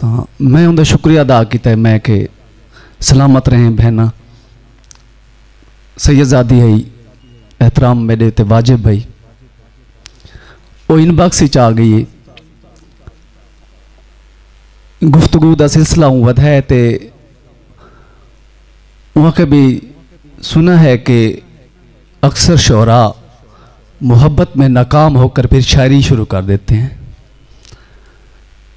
تاں میں اوندا شکریہ ادا کیتا ہے میں کہ سلامت رہیں بہناں سید زادی ہئی احترام میڈے تے واجب ہئی او ان باکس وچ آ گئی ہے گفتگو دا سلسلہ ہوں ودھا ہے تے وہاں کے بھی سنا ہے کہ اکثر شعراء محبت میں ناکام ہو کر پھر شاعری شروع کر دیتے ہیں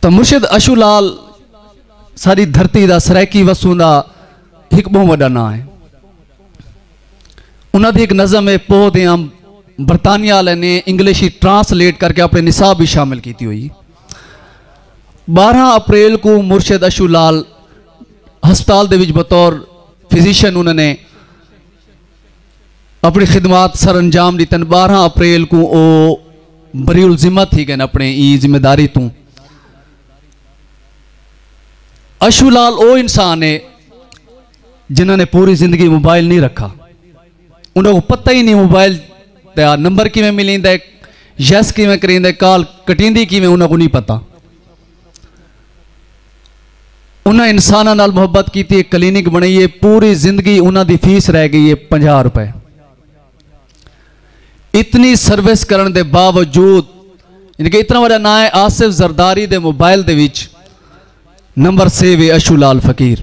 تاں مرشد اشو لال ساݙی دھرتی دا سرائیکی وسوں دا ہک ٻہوں وݙا ناں ہے۔ انہاں دی ہک نظم ہے پوہ دے انب برطانیہ آلے نے انگلش اچ ٹرانس لیٹ کر کے اپݨے نصاب اچ شامل کیتی ہوئی۔ ٻارہاں اپریل کوں مرشد اشو لال ہسپتال دے وچ بطور فزیشن انہاں نے اپݨی خدمات سر انجام ݙتن ٻارہاں اپریل کوں او بری الذمہ تھی ڳئن اپݨے ایں ذمہ داری توں اشو لال او انسان ہے جنہاں نے پوری زندگی موبائل نہیں رکھا انہوں کو پتہ ہی نہیں موبائل دا نمبر کیویں ملیندا ہے یس کیویں کریندے کال کٹیندی کیویں انہوں کو نہیں پتہ انہاں انساناں نال محبت کیتی ہے کلینک بنائی ہے پوری زندگی انہاں دی فیس رہ گئی ہے پنجا روپے اتنی سروس کرن دے باوجود یعنی کہ اتنا بڑا نام ہے آصف زرداری دے موبائل دے وچ نمبر سیو ہے اشو لال فقیر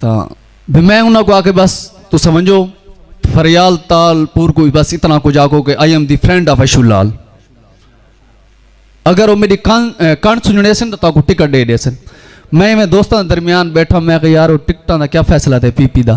تاں بھی میں انہاں کو آکے بس تو سمجھو فریال تال پور کو بس اتنا کو جاکو کہ I am the friend of Ashu Lal اگر وہ میری کان کان سننے سن تو تاکو ٹکٹ دے دے سن میں میں دوستان درمیان بیٹھا میں کہ یار وہ ٹکٹان دا کیا فیصلہ دے پی پی دا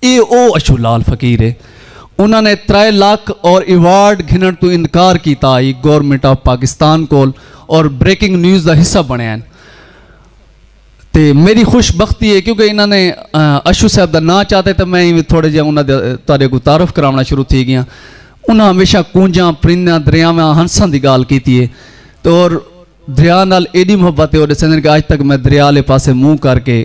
اے او اشو لال فقیر اے انہاں نے ترائے لکھ اور ایوارڈ گھننڑ توں اندکار کیتا ہئی گورنمنٹ آف پاکستان کول اور بریکنگ نیوز دا حصہ بنڑے ہن تے میری خوش بختی اے کیونکہ انہاں نے اشو صاحب دا ناں چاتے تے میں ایویں تھوڑے جیاں انہاں دے تہاڈے اگوں تعارف کراونڑاں شروع تھی گیاں انہاں ہمیشہ کونجاں پرندیاں دریاواں ہنساں دی گالھ کیتی اے تے اور دریا نال ایڈی محبت اے او ڈسیندن کہ اج تک میں دریا آلے پاسے منہ کر کے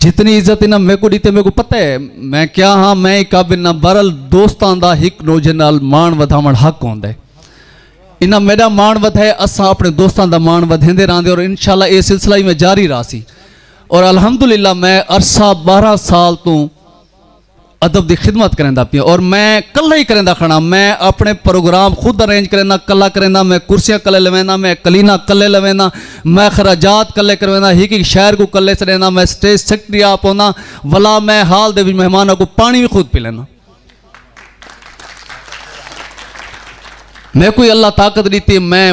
جتنی عزت انہاں میکوں ڈیتے میکوں پتہ ہے میں کیا ہاں میں ہی قابل نہ برل دوستان دا ہک نوجے نال مان ودھاون حق ہوندے انہاں میڈا مان ودھے اساں اپنے دوستان دا مان ودھیندے راندے اور انشاءاللہ اے سلسلہ ہی میں جاری راسی اور الحمدللہ میں عرصہ بارہ سال توں ادب دی خدمت کریندا پیاں اور میں کلہ ہی کریندا کھڑاں میں اپنے پروگرام خود ارینج کریندا کلہ کریندا میں کرسیاں کلے لویندا میں کلینا کلے لویندا میں خراجات کلے کریندا ہک ہک شاعر کو کلے سڑیندا میں سٹیج سیکرٹری آپ ہوندا ولا میں حال دے وچ مہماناں کو پانی بھی خود پلیندا میں کوئی اللہ طاقت ڈیتی میں